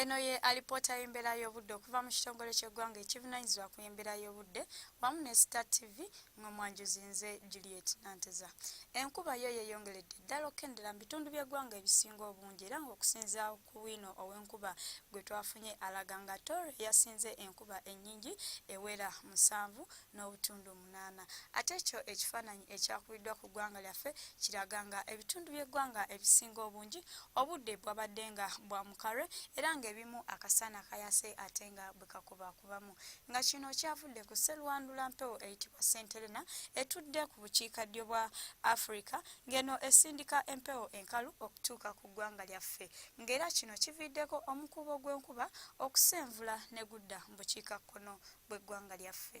Eno ye alipoota y'embeera y'obudde okuva mu kitongole ky'eggwanga ekivunanyizibwa ku embeera y'obudde wamu ne Star TV nga mwanjuzi nze Juliet Nanteza. Enkuba yo yeyongeredde ddala okukendera mu bitundu by'eggwanga ebisinga obungi era ng'okusinzira ku bwino ow'enkuba gwe twafunye alaga nga Tooro yasinze enkuba ennyingi ewera musanvu n'obutundu munaana ate ekyo ekifaananyi ekyakubiddwa ku ggwanga lyaffe kiraga nga ebitundu by'eggwanga ebisinga obungi obudde bwabadde nga bwa mukarwe era ng'ebimu akasaana kayase ate nga bwe kakubakubamu nga kino kyavudde ku sserwandula mpewo eyitibwa senterena etudde ku bukiikaddyo bwa afirika ng'eno esindika empewo enkalu okutuuka ku ggwanga lyaffe ng'era kino kiviiddeko omukuubo gw'enkuba okusenvula ne gudda mu bukiikakkono bw'eggwanga lyaffe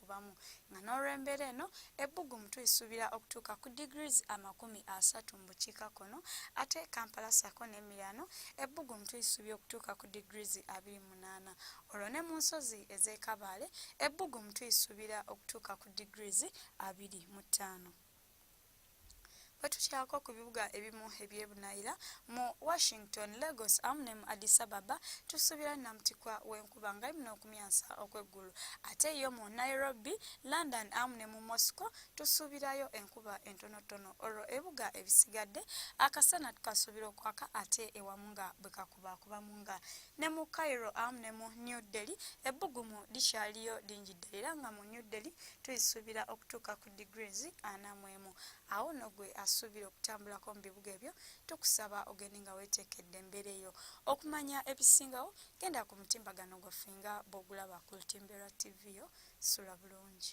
ku bamu nga n'olw'embeera eno ebbugumu tulisuubira okutuuka ku degrees amakumi asatu mu bukiikakkono ate Kampala ssaako n'emiriraano ebbugumu tulisuubira okutuuka ku degrees abiri munaana olwo ne mu nsozi ez'e Kabaale ebbugumu tulisuubira okutuuka ku degrees abiri mu ttaano. Bwe tukyako ku bibuga ebimu eby'ebunayira mu Washington, Lagos awamu ne mu Addis Ababa tusuubira nnamutikwa w'enkuba nga yimina okumyansa okw'eggulu ate yo mu Nairobi, London awamu ne mu Moscow tusuubirayo enkuba entonotono olwo ebibuga ebisigadde akasana tukasuubira okwaka ate ewamu nga bwe kakubaakubamu nga ne mu Cairo awamu ne mu New Delhi ebbugumu likyaliyo lingi ddala era nga mu New Delhi tuyisuubira okutuuka ku degrees ana mwemu awo no gwe asuubira okutambulako mu bibuga ebyo tukusaba ogende nga wetekedde embeera eyo okumanya ebisingawo genda ku mutimbagano gwaffe nga bwogulaba ku lutimbe lwa tv yo sula bulungi